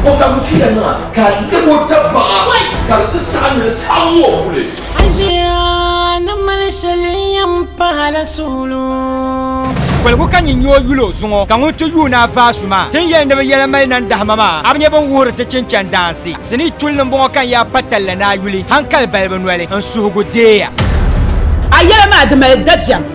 O ka mi fiya nima ka lebo tabaɣa ka di ti saɣa ni saɣa ŋɔ kuli. Ajiya ni mali shɛli yɛn pahala suɣulo. Koligu ka nyin nyoo yuli o zuŋɔ, ka ŋun ti yuun a vaasu maa tin yɛli ni bɛ yɛla mali nandahima maa, a bi nya bɛn wuhiri ti chinchan daansi. Sinii tulli m-bɔŋɔ ka n yaa pa talli ni a yuli, hankali balibu noli, n suhigu deeya. A yɛla maa di mali dabiɛm,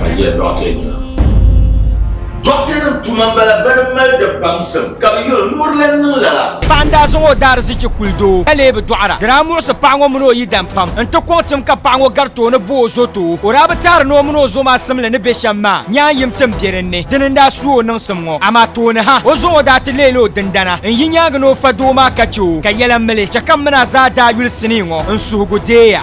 Ka jɛ dɔɣite nima. Dɔɣite nim tuma m-bala bɛ ni mali di baŋsim ka bɛ yuri ni o di lan niŋ lala. Paɣa n-daa zaŋ o daarizichi kuli doo ka lee bi dɔɣira. Di daa muɣisi paɣa ŋɔ mini o yidan pam n-ti kɔŋ tim ka paɣa ŋɔ gari tooni bo o zo too. O daa bi taari ni o mini o zo maa simli ni be shɛm maa nyaan yim tim be din ni. Dini n-daa su o niŋsim ŋɔ. Amaa tooni ha, o zo ŋɔ daa ti leela o dindana n-yi nyaangi ni o fa doo maa ka che o ka yɛla mili. Chɛ ka m mini a zaa daa yuli sinii ŋɔ n-suhigu deeya.